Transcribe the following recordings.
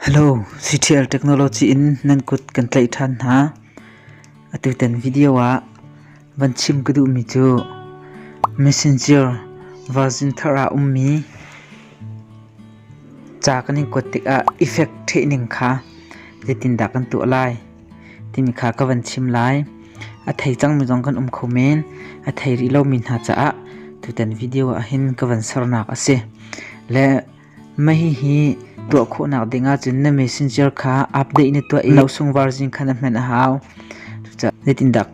Hello, CTL technology in nan kut kan tlaih ṭhan hna. Atutan video ah van chim ka duhmi cu Messenger version thar ah ummi ca kan in kuat tikah effect ṭhehning kha zeitindah kan tuah lai timi kha ka van chim lai. A thei cangmi zong kan um kho men. A thei rih lomi hna caah tutan video ah hin ka van sernak a si. Le Hihi tuah khawhnak ding ahcun na messenger kha update na tuah i nosung version khan a hman a hau. Cucaah zeitindah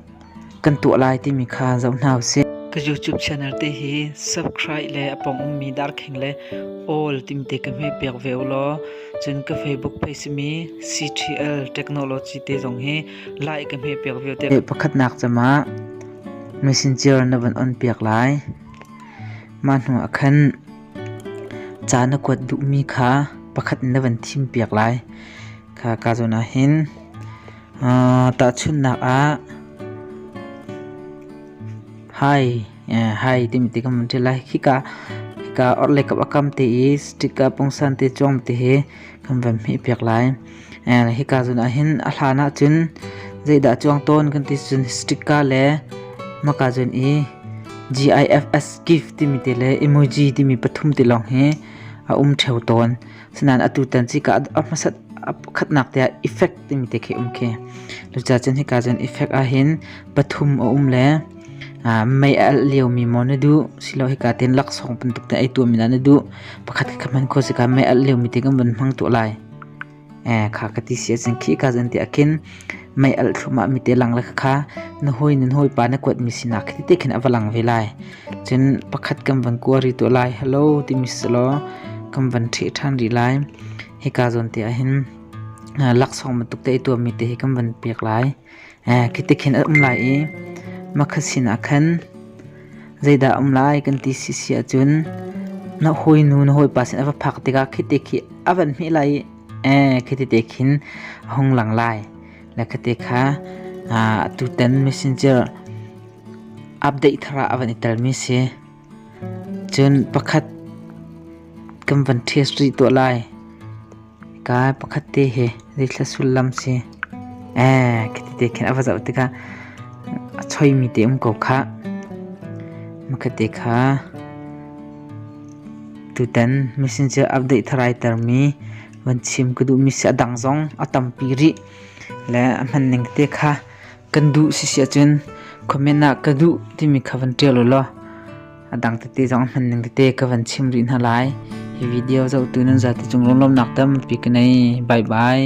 kan tuah lai timi kha zoh hna usih. Ka YouTube channel te hi subscribe le a pong ummi darkhing le all timte ka hme piak ve ulaw cun ka Facebook page simi CTL Technology te zong hi like ka hme piak ve te. Pakhatnak camah messenger na van on piak lai. Mah hnu ah khan Ca na kuat duhmi kha pakhat na van thimpiak lai. Kha ka zawn ah hin tahchunhnak ah hai hai timi ti kan van ṭial lai. Khika khika orhlei kap a kam te i stick a pungsan te cuang ti hi kan van hmihpiak lai. hika zun ah hin a hlan ah cun zeidah cuang tawn kan ti cun sticker le hmaka zun i GIFS gift timi te le emoji timi pathum te lawng hi a um theo tawn sinain atu tan cika a hmasat khatnak te ah effect timi te khi um khi luca cun hika zun effect ah hin pathum a um le mei a alh lio mi maw na duh silo hika ten laksawng pan tuk te ai tuam mi na duh pakhat kha man kho sika mei alh lio mi te kan van hmang tu lai kha ka ti si ahcun khika zan te ah khin mei alh thluam ah mite lang le kha na hawi nan hawipa na kuatmi sinak khi tete khin a va lang ve lai cun pakhat kan van kuari tuah lai hello timi si law kan van ṭheh ṭhan rih lai hika zawn te ah hin laksawng bantuk te i tuammi te hi kan van pek lai Khiti khin a um lai i makhat sinah khan, Zeidah a um lai kan ti sisi ahcun na hawinu na hawipa sin a va phak tikah khiti khi a van hmih lai i khiti te khin a hung lang lai. Le khiti kha atutan messenger update thar ah a van i telmi si. Cun pakhat kan van test rih tuah lai. Kai pakhat te hi zeithla sullam si. Ee ka ti te khin a va zoh tikah a choimi te um ko khah. Makate kha tutan messenger update tharai termi van chim ka duhmi si a dang zong a tampi rih. Le a hman ning te kha kan duh si si ahcun comment ah ka duh timi kha van ṭial u law a dang tete zong a hman ning tete ka van chim rih hna lai hi video zohtu nan zati cung runlawmnak tampi ka nei bye bye